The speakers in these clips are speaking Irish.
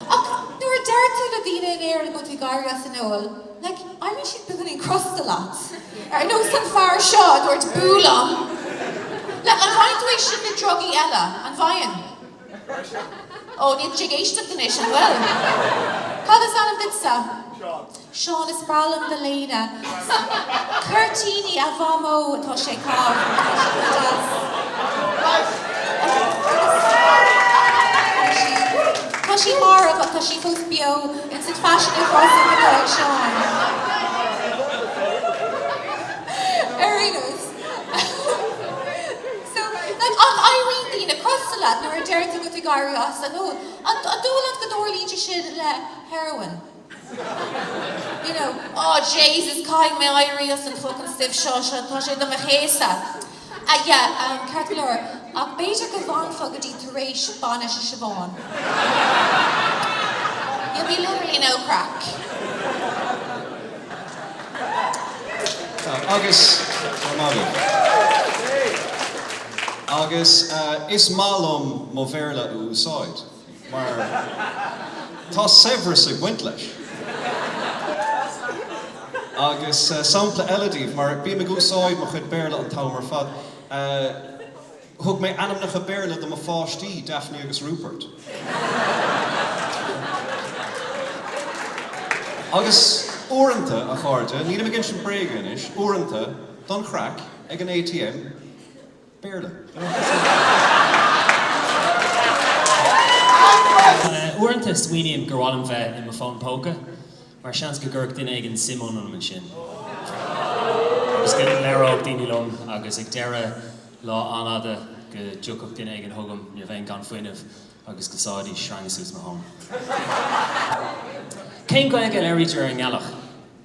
Ach nuair a deir tú le daoine in Éirinn go bhfuil tú ag éirí as an ól, like, éiríonn siad beagáinín crosta leat. Ar nós an fear seo a dúirt boo liom. Like, an bhfaigheann tú é sin le drugaí eile? An bhfaigheann? Ó, níl tú ag éisteacht anois, an bhfuil? Cad is ainm duitse? Seán. Seán, Is breá liom do léine. Cuirtíní, a Mhamó, tá sé go breá. Tá sí marbh ach tá sí fós beo. Is it fashionable for us to look like Seán? Ar aon nós, so, like, éiríonn daoine crosta leat nuair a deireann tú go bhfuil tú ag éirí as, like, oh, an dóigh leat go dtarlaíonn sé sin le heroin? you know, oh Jesus caithfidh mé éirí as an fucking stuif seo, seo, tá sé do mo chéasadh. Ah yeah, um, ceart go leor, ach b'fhéidir go bhfanfá go dtí tar éis bainis Shiobhán. You'll be literally no craic. Agus is maith liom mo Bhéarla a úsáid. Mar tá saibhreas ag baint leis. Agus sampla eile daoibh, mar bím ag úsáid mo chuid Béarla an t-am ar fad. Thug mé ainmneacha Béarla do mo pháistí, Daphne agus Rupert. Agus uaireanta, a chairde, nílim ag insint bréaga anois, uaireanta, don chraic, ag an ATM, Béarla. Uaireanta smaoiním gur mhaith liom bheith i m'fhón póca mar seans go gcuirfeadh duine éigin suim ionam ansin agus go labhródh daoine liom agus ag deireadh lá an-fhada go dtiocfadh duine éigin chugam nuair a bheinn gan fuinneamh agus go sáfaidís sreanga suas mo thóin. Cén Ghaeilge a labhraítear ar an ngealach?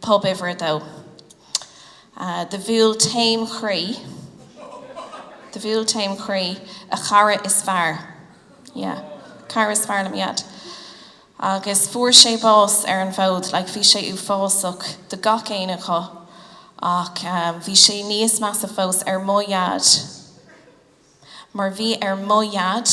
Pub uimhir a dó. Do bhuail taom chroí, do bhuail taom chroí, a chara is fearr, yeah, cara is fearr le m'Dhaid. Agus fuair sé bás ar an bhfód, like bhí sé uafásach do gach éinne acu, ach bhí sé níos measa fós ar mo Dhaid, mar bhí ar mo Dhaid,